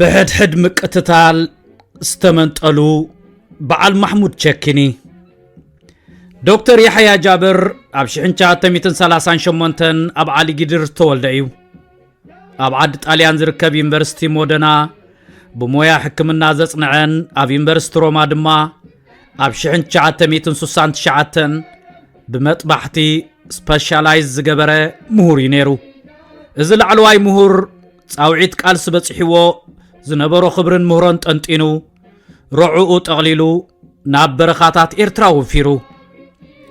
ብሕድሕድ ምቅትታል ዝተመንጠሉ በዓል ማሕሙድ ቸኪኒ ዶክተር ያሕያ ጃብር ኣብ 1938 ኣብ ዓሊ ጊድር ዝተወልደ እዩ ኣብ ዓዲ ጣልያን ዝርከብ ዩኒቨርሲቲ ሞደና ብሞያ ሕክምና ዘጽንዐን ኣብ ዩኒቨርሲቲ ሮማ ድማ ኣብ 1969 ብመጥባሕቲ ስፐሻላይዝ ዝገበረ ምሁር እዩ ነይሩ እዚ ላዕለዋይ ምሁር ጻውዒት ቃልሲ በጺሕዎ ዝነበሮ ክብርን ምህሮን ጠንጢኑ ረዑኡ ጠቕሊሉ ናብ በረኻታት ኤርትራ ወፊሩ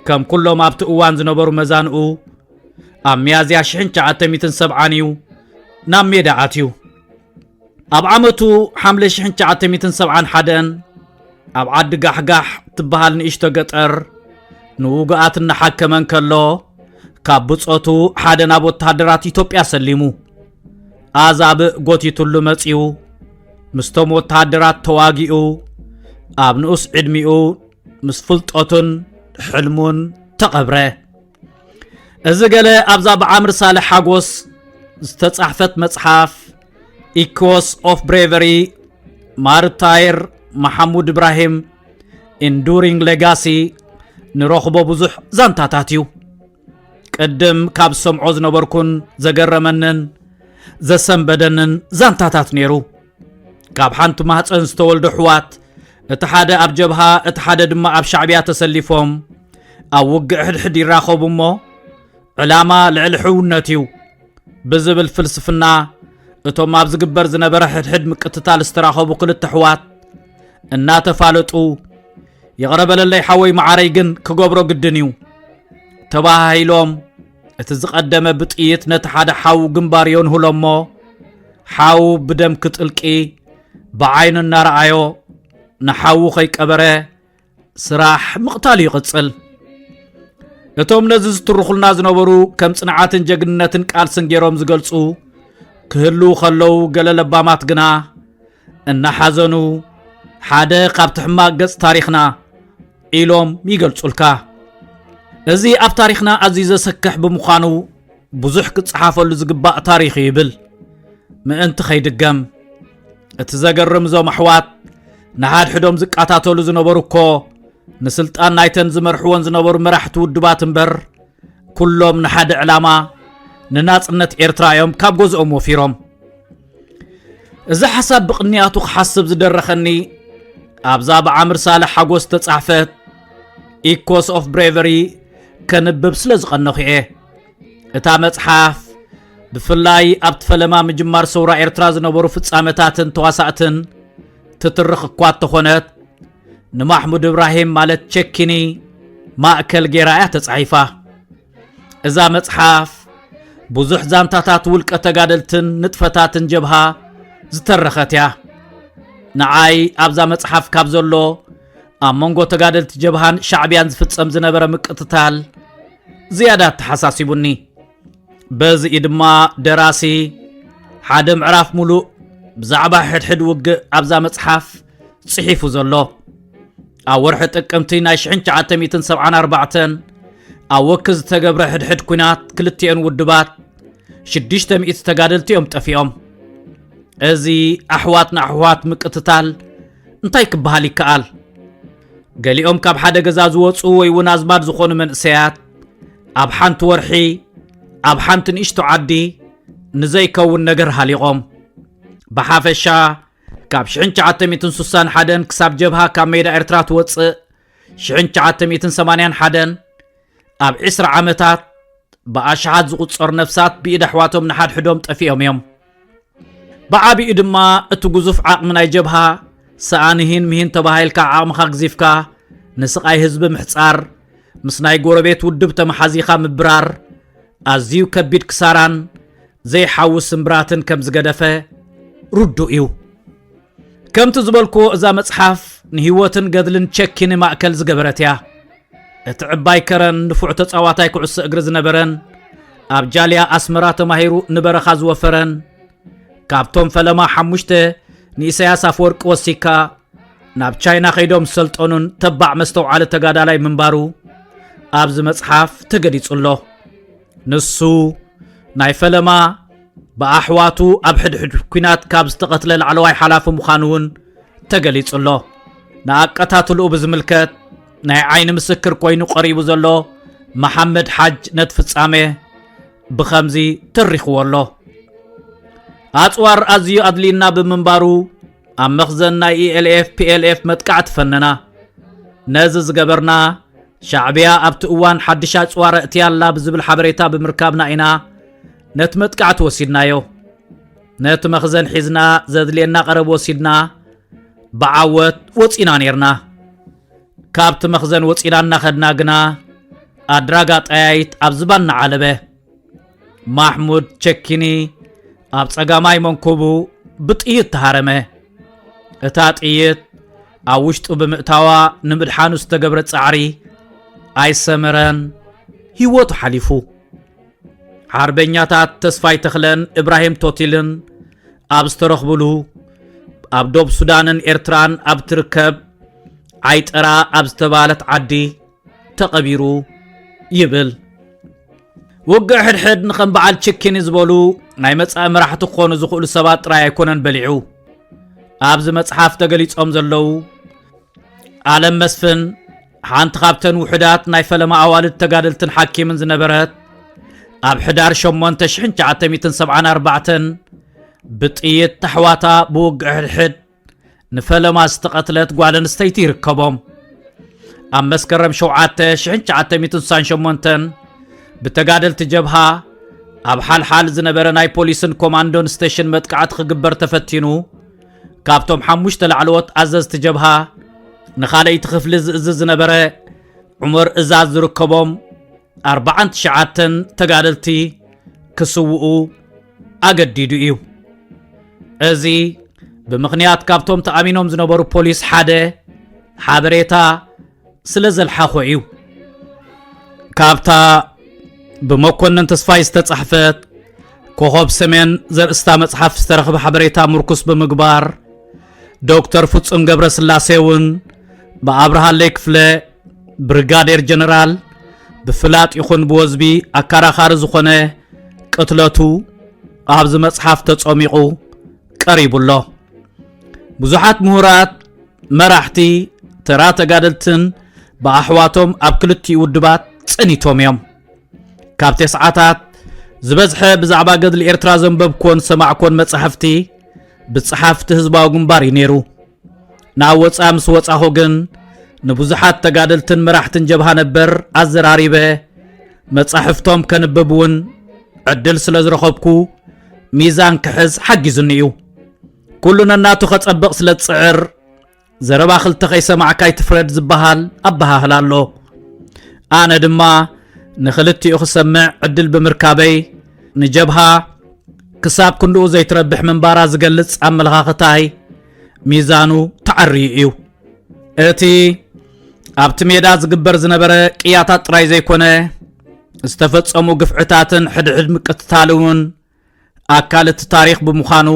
ከም ኩሎም ኣብቲ እዋን ዝነበሩ መዛንኡ ኣብ ሚያዝያ ሽሕን ትሽዓተ ሚእትን ሰብዓን እዩ ናብ ሜዳ ኣትዩ ኣብ ዓመቱ ሓምለ ሽሕን ትሽዓተ ሚእትን ሰብዓን ሓደን ኣብ ዓዲ ጋሕጋሕ ትበሃል ንእሽቶ ገጠር ንውጉኣት እናሓከመ እንከሎ ካብ ብጾቱ ሓደ ናብ ወተሃደራት ኢትዮጵያ ሰሊሙ ኣዛብእ ጎቲቱሉ መጺኡ ምስቶም ወተሃደራት ተዋጊኡ ኣብ ንኡስ ዕድሚኡ ምስ ፍልጠቱን ሕልሙን ተቐብረ እዚ ገለ ኣብዛ ብዓምር ሳልሕ ሓጎስ ዝተጻሕፈት መጽሓፍ ኢኮስ ኦፍ ብሬቨሪ ማርታይር መሓሙድ እብራሂም ኢንዱሪንግ ሌጋሲ ንረኽቦ ብዙሕ ዛንታታት እዩ ቅድም ካብ ሰምዖ ዝነበርኩን ዘገረመንን ዘሰንበደንን ዛንታታት ነይሩ ካብ ሓንቲ ማህፀን ዝተወልዶ ኣሕዋት እቲ ሓደ ኣብ ጀብሃ እቲ ሓደ ድማ ኣብ ሻዕብያ ተሰሊፎም ኣብ ውግእ ሕድሕድ ይራኸቡ እሞ ዕላማ ልዕሊ ሕውነት እዩ ብዝብል ፍልስፍና እቶም ኣብ ዝግበር ዝነበረ ሕድሕድ ምቅትታል ዝተራኸቡ ክልተ ኣሕዋት እናተፋለጡ ይቕረበለለይ ሓወይ መዓረይ ግን ክገብሮ ግድን እዩ ተባሃሂሎም እቲ ዝቐደመ ብጥይት ነቲ ሓደ ሓዉ ግንባር የንሁሎ እሞ ሓዉ ብደም ክጥልቂ ብዓይኑ እናረኣዮ ንሓዉ ከይቀበረ ስራሕ ምቕታል ይቕጽል እቶም ነዚ ዝትርኹልና ዝነበሩ ከም ጽንዓትን ጀግንነትን ቃልስን ገይሮም ዝገልጹ ክህልው ከለዉ ገለ ለባማት ግና እናሓዘኑ ሓደ ካብቲ ሕማቅ ገጽ ታሪኽና ኢሎም ይገልጹልካ እዚ ኣብ ታሪኽና ኣዝዩ ዘሰክሕ ብምዃኑ ብዙሕ ክጸሓፈሉ ዝግባእ ታሪኽ ይብል ምእንቲ ከይድገም እቲ ዘገርም እዞም ኣሕዋት ንሓድሕዶም ዝቃታተሉ ዝነበሩ እኮ ንስልጣን ናይተን ዝመርሕዎን ዝነበሩ መራሕቲ ውድባት እምበር ኩሎም ንሓደ ዕላማ ንናጽነት ኤርትራ እዮም ካብ ገዝኦም ወፊሮም እዚ ሓሳብ ብቕንያቱ ክሓስብ ዝደረኸኒ ኣብዛ ብዓምር ሳልሕ ሓጎስ ተጻሕፈት ኢኮስ ኦፍ ብሬቨሪ ከንብብ ስለ ዝቐነኹ እየ እታ መጽሓፍ ብፍላይ ኣብቲ ፈለማ ምጅማር ሰውራ ኤርትራ ዝነበሩ ፍጻመታትን ተዋሳእትን ትትርኽ እኳ እተኾነት ንማሕሙድ እብራሂም ማለት ቸኪኒ ማእከል ገይራ እያ ተጻሒፋ እዛ መጽሓፍ ብዙሕ ዛንታታት ውልቀ ተጋደልትን ንጥፈታትን ጀብሃ ዝተረኸት እያ ንዓይ ኣብዛ መጽሓፍ ካብ ዘሎ ኣብ መንጎ ተጋደልቲ ጀብሃን ሻዕብያን ዝፍጸም ዝነበረ ምቅትታል ዝያዳ ተሓሳሲቡኒ በዚ እዩ ድማ ደራሲ ሓደ ምዕራፍ ሙሉእ ብዛዕባ ሕድሕድ ውግእ ኣብዛ መጽሓፍ ጽሒፉ ዘሎ ኣብ ወርሒ ጥቅምቲ ናይ ሽሕን ትሽዓተ ሚእትን ሰብዓን ኣርባዕተን ኣብ ወኪ ዝተገብረ ሕድሕድ ኩናት ክልቲኤን ውድባት ሽዱሽተ ሚእቲ ተጋደልቲ እዮም ጠፊኦም እዚ ኣሕዋት ንኣሕዋት ምቅትታል እንታይ ክበሃል ይከኣል ገሊኦም ካብ ሓደ ገዛ ዝወፁ ወይ እውን ኣዝማድ ዝኾኑ መንእሰያት ኣብ ሓንቲ ወርሒ ኣብ ሓንቲ ንእሽቶ ዓዲ ንዘይከውን ነገር ሃሊቖም ብሓፈሻ ካብ ሽሕን ትሽዓተ ሚእትን ሱሳን ሓደን ክሳብ ጀብሃ ካብ ሜዳ ኤርትራ ትወጽእ ሽሕን ትሽዓተ ሚእትን ሰማንያን ሓደን ኣብ ዕስራ ዓመታት ብኣሽሓት ዝቝጸሩ ነፍሳት ብኢድ ኣሕዋቶም ንሓድሕዶም ጠፊኦም እዮም ብዓቢኡ ድማ እቲ ግዙፍ ዓቕሚ ናይ ጀብሃ ሰኣን ሂን ምሂን ተባሂልካ ዓቕምኻ ግዚፍካ ንስቓይ ህዝቢ ምሕጻር ምስ ናይ ጎረቤት ውድብ ተመሓዚኻ ምብራር ኣዝዩ ከቢድ ክሳራን ዘይሓዊ ስምብራትን ከም ዝገደፈ ርዱእ እዩ ከምቲ ዝበልክዎ እዛ መጽሓፍ ንህይወትን ገድልን ቸኪኒ ማእከል ዝገበረት እያ እቲ ዕባይ ከረን ንፉዕ ተጻዋታይ ኩዕሶ እግሪ ዝነበረን ኣብ ጃልያ ኣስመራ ተማሂሩ ንበረኻ ዝወፈረን ካብቶም ፈለማ ሓሙሽተ ንኢሳያስ ኣፈወርቂ ወሲካ ናብ ቻይና ከይዶም ዝሰልጠኑን ተባዕ መስተውዓሊ ተጋዳላይ ምንባሩ ኣብዚ መጽሓፍ ተገሊጹ ኣሎ ንሱ ናይ ፈለማ ብኣሕዋቱ ኣብ ሕድሕድ ኩናት ካብ ዝተቐትለ ላዕለዋይ ሓላፊ ምዃኑ እውን ተገሊጹ ኣሎ ንኣቀታትልኡ ብዝምልከት ናይ ዓይኒ ምስክር ኮይኑ ቀሪቡ ዘሎ መሓመድ ሓጅ ነቲ ፍጻሜ ብኸምዚ ተሪኽዎ ኣሎ ኣፅዋር ኣዝዩ ኣድልዩና ብምንባሩ ኣብ መኽዘን ናይ ኢኤልኤፍ ፒኤልኤፍ መጥቃዕቲ ፈነና ነዚ ዝገበርና ሻዕብያ ኣብቲ እዋን ሓድሽ ኣጽዋር እእትያ ኣላ ብዝብል ሓበሬታ ብምርካብና ኢና ነቲ መጥቃዕቲ ወሲድናዮ ነቲ መኽዘን ሒዝና ዘድልየና ቀረብ ወሲድና ብዓወት ወፂና ነርና ካብቲ መኽዘን ወፂና እናኸድና ግና ኣድራጋ ጠያይት ኣብ ዝባና ዓለበ ማሕሙድ ቸኪኒ ኣብ ጸጋማይ መንኩቡ ብጥይት ተሃረመ እታ ጥይት ኣብ ውሽጡ ብምእታዋ ንምድሓኑ ዝተገብረ ጻዕሪ ኣይሰመረን ህይወቱ ሓሊፉ ሓርበኛታት ተስፋይ ተኽለን እብራሂም ቶቲልን ኣብ ዝተረኽብሉ ኣብ ዶብ ሱዳንን ኤርትራን ኣብ ትርከብ ዓይጠራ ኣብ ዝተባለት ዓዲ ተቐቢሩ ይብል ውግእ ሕድሕድ ንኸም በዓል ችኪኒ ዝበሉ ናይ መጻኢ መራሕቲ ክኾኑ ዝኽእሉ ሰባት ጥራይ ኣይኮነን በሊዑ ኣብዚ መጽሓፍ ተገሊጾም ዘለዉ ኣለም መስፍን ሓንቲ ካብተን ውሑዳት ናይ ፈለማ ኣዋልድ ተጋደልትን ሓኪምን ዝነበረት ኣብ ሕዳር 8974 ብጥይት ኣሕዋታ ብውግእ ሕድሕድ ንፈለማ ዝተቐትለት ጓል ኣንስተይቲ ይርከቦም ኣብ መስከረም 7968 ብተጋደልቲ ጀብሃ ኣብ ሓልሓል ዝነበረ ናይ ፖሊስን ኮማንዶን ስቴሽን መጥቃዕቲ ክግበር ተፈቲኑ ካብቶም ሓሙሽተ ላዕለዎት ኣዘዝቲ ጀብሃ ንኻልኣይቲ ክፍሊ ዝእዝ ዝነበረ ዑመር እዛዝ ዝርከቦም ኣርባዓን ትሽዓተን ተጋደልቲ ክስውኡ ኣገዲዱ እዩ እዚ ብምኽንያት ካብቶም ተኣሚኖም ዝነበሩ ፖሊስ ሓደ ሓበሬታ ስለ ዘልሓኾ እዩ ካብታ ብመኮንን ተስፋይ ዝተጻሕፈት ኮኸብ ሰሜን ዘርእስታ መጽሓፍ ዝተረኽበ ሓበሬታ ምርኩስ ብምግባር ዶክተር ፍጹም ገብረ ስላሴ እውን ብኣብርሃለይ ክፍለ ብርጋዴር ጀነራል ብፍላጥ ይኹን ብወዝቢ ኣካራኻሪ ዝኾነ ቅትለቱ ኣብዚ መጽሓፍ ተጸሚቑ ቀሪቡ ኣሎ ብዙሓት ምሁራት መራሕቲ ተራ ተጋደልትን ብኣሕዋቶም ኣብ ክልቲኡ ውድባት ጸኒቶም እዮም ካብ ተስዓታት ዝበዝሐ ብዛዕባ ገድሊ ኤርትራ ዘንበብኮን ሰማዕኮን መጻሕፍቲ ብጸሓፍቲ ህዝባዊ ግንባር እዩ ነይሩ ናብ ወፃኢ ምስ ወፃኹ ግን ንብዙሓት ተጋደልትን መራሕትን ጀብሃ ነበር ኣዘራሪበ መጻሕፍቶም ከንብብ እውን ዕድል ስለ ዝረኸብኩ ሚዛን ክሕዝ ሓጊዙኒ እዩ ኩሉ ነናቱ ከጸብቕ ስለ ዝጽዕር ዘረባ ክልተ ከይሰማዕካ ይትፍረድ ዝበሃል ኣበሃህላ ኣሎ ኣነ ድማ ንኽልቲኡ ክሰምዕ ዕድል ብምርካበይ ንጀብሃ ክሳብ ክንድኡ ዘይትረብሕ ምንባራ ዝገልጽ ኣመለኻኽታይ ሚዛኑ ተዓርዩ እዩ እቲ ኣብቲ ሜዳ ዝግበር ዝነበረ ቅያታት ጥራይ ዘይኮነ ዝተፈጸሙ ግፍዕታትን ሕድሕድ ምቅትታል እውን ኣካል እቲ ታሪኽ ብምዃኑ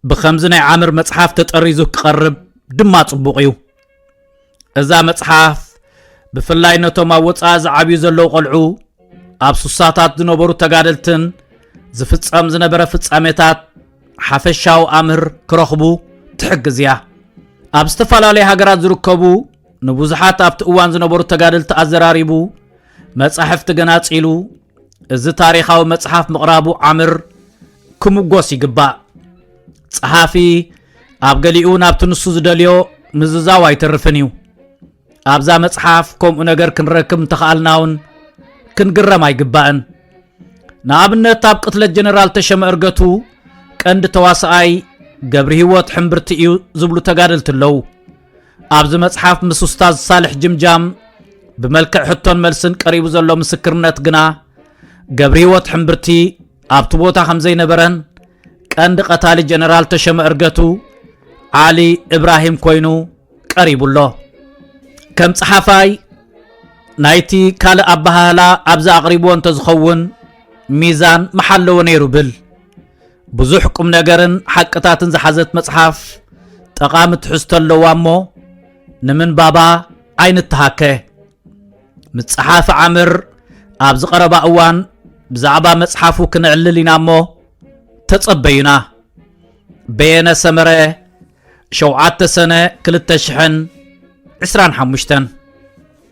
ብኸምዚ ናይ ዓምር መጽሓፍ ተጠሪዙ ክቐርብ ድማ ጽቡቕ እዩ እዛ መጽሓፍ ብፍላይ ነቶም ኣብ ወፃኢ ዝዓብዩ ዘለዉ ቖልዑ ኣብ ሱሳታት ዝነበሩ ተጋደልትን ዝፍጸም ዝነበረ ፍጻሜታት ሓፈሻዊ ኣምህር ክረኽቡ ትሕግዝ እያ ኣብ ዝተፈላለየ ሃገራት ዝርከቡ ንብዙሓት ኣብቲ እዋን ዝነበሩ ተጋደልቲ ኣዘራሪቡ መጻሕፍቲ ገናጺሉ እዚ ታሪኻዊ መጽሓፍ ምቕራቡ ዓምር ክምጎስ ይግባእ። ጸሓፊ ኣብ ገሊኡ ናብቲ ንሱ ዝደልዮ ምዝዛው ኣይተርፍን እዩ። ኣብዛ መጽሓፍ ከምኡ ነገር ክንረክብ እንተኸኣልና እውን ክንግረም ኣይግባእን ንኣብነት ኣብ ቅትለት ጀነራል ተሸመ እርገቱ ቀንዲ ተዋሳኣይ ገብሪ ህይወት ሕምብርቲ እዩ ዝብሉ ተጋደልቲ ኣለዉ ኣብዚ መጽሓፍ ምስ ኡስታዝ ሳልሕ ጅምጃም ብመልክዕ ሕቶን መልስን ቀሪቡ ዘሎ ምስክርነት ግና ገብሪ ህይወት ሕምብርቲ ኣብቲ ቦታ ከም ዘይነበረን ቀንዲ ቀታሊ ጀነራል ተሸመ እርገቱ ዓሊ እብራሂም ኮይኑ ቀሪቡ ኣሎ ከም ጸሓፋይ ናይቲ ካልእ ኣበሃህላ ኣብዚ ኣቕሪብዎ እንተዝኸውን ሚዛን መሓለዎ ነይሩ ብል ብዙሕ ቁም ነገርን ሓቅታትን ዝሓዘት መጽሓፍ ጠቓሚ ትሕዝቶ ኣለዋ እሞ ንምንባባ ኣይንተሃከ ምስ ጸሓፊ ዓምር ኣብ ዝቐረባ እዋን ብዛዕባ መጽሓፉ ክነዕልል ኢና እሞ ተጸበዩና በየነ ሰመረ ሸውዓተ ሰነ ክልተ ሽሕን ዕስራን ሓሙሽተን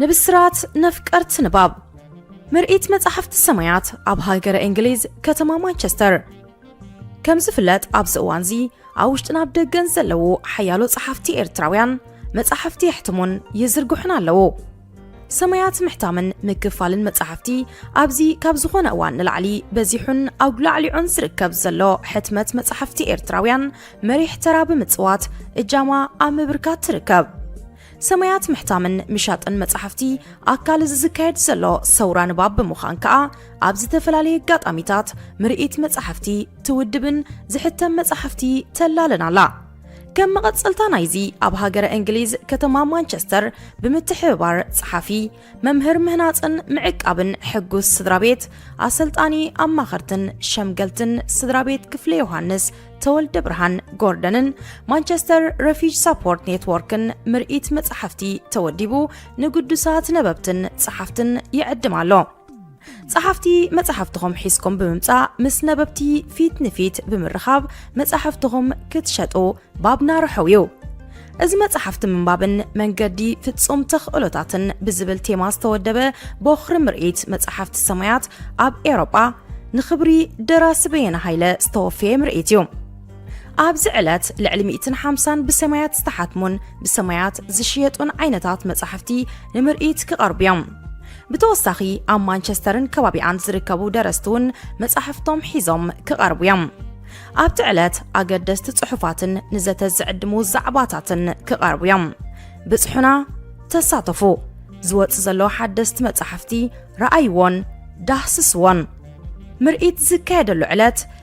ንብስራት ነፍቀርት ንባብ ምርኢት መጻሕፍቲ ሰማያት ኣብ ሃገረ እንግሊዝ ከተማ ማንቸስተር ከም ዝፍለጥ ኣብዚ እዋንዚ ኣብ ውሽጥን ኣብ ደገን ዘለዉ ሓያሎ ጸሓፍቲ ኤርትራውያን መጻሕፍቲ የሕትሙን ይዝርግሑን ኣለዉ ሰማያት ምሕታምን ምክፋልን መጻሕፍቲ ኣብዚ ካብ ዝኾነ እዋን ንላዕሊ በዚሑን ኣጉላዕሊዑን ዝርከብ ዘሎ ሕትመት መጻሕፍቲ ኤርትራውያን መሪሕ ተራ ብምጽዋት እጃማ ኣብ ምብርካት ትርከብ። ሰማያት ምሕታምን ምሻጥን መጻሕፍቲ ኣካል እዚ ዝካየድ ዘሎ ሰውራ ንባብ ብምዃን ከኣ ኣብ ዝተፈላለየ ኣጋጣሚታት ምርኢት መጻሕፍቲ ትውድብን ዝሕተም መጻሕፍቲ ተላልን ኣላ። ከም መቐጸልታ ናይዚ ኣብ ሃገረ እንግሊዝ ከተማ ማንቸስተር ብምትሕብባር ጸሓፊ መምህር ምህናጽን ምዕቃብን ሕጉስ ስድራ ቤት ኣሰልጣኒ ኣማኸርትን ሸምገልትን ስድራ ቤት ክፍለ ዮሃንስ ተወልደ ብርሃን ጎርደንን ማንቸስተር ረፊጅ ሳፖርት ኔትዎርክን ምርኢት መጻሕፍቲ ተወዲቡ ንግዱሳት ነበብትን ጸሓፍትን ይዕድም ኣሎ ጸሓፍቲ መጻሕፍትኹም ሒዝኩም ብምምጻእ ምስ ነበብቲ ፊት ንፊት ብምርኻብ መጻሕፍትኹም ክትሸጡ ባብና ርሑው እዩ። እዚ መጻሕፍቲ ምንባብን መንገዲ ፍጹም ተኽእሎታትን ብዝብል ቴማ ዝተወደበ ቦኽሪ ምርኢት መጻሕፍቲ ሰማያት ኣብ ኤውሮጳ ንኽብሪ ደራሲ በየነ ሃይለ ዝተወፈየ ምርኢት እዩ። ኣብዚ ዕለት ልዕሊ ሚእትን ሓምሳን ብሰማያት ዝተሓትሙን ብሰማያት ዝሽየጡን ዓይነታት መጻሕፍቲ ንምርኢት ክቐርቡ እዮም ብተወሳኺ ኣብ ማንቸስተርን ከባቢኣን ዝርከቡ ደረስቲ እውን መጻሕፍቶም ሒዞም ክቐርቡ እዮም ኣብቲ ዕለት ኣገደስቲ ጽሑፋትን ንዘተ ዝዕድሙ ዛዕባታትን ክቐርቡ እዮም ብጽሑና ተሳተፉ ዝወጽእ ዘሎ ሓደስቲ መጻሕፍቲ ረኣይዎን ዳህስስዎን ምርኢት ዝካየደሉ ዕለት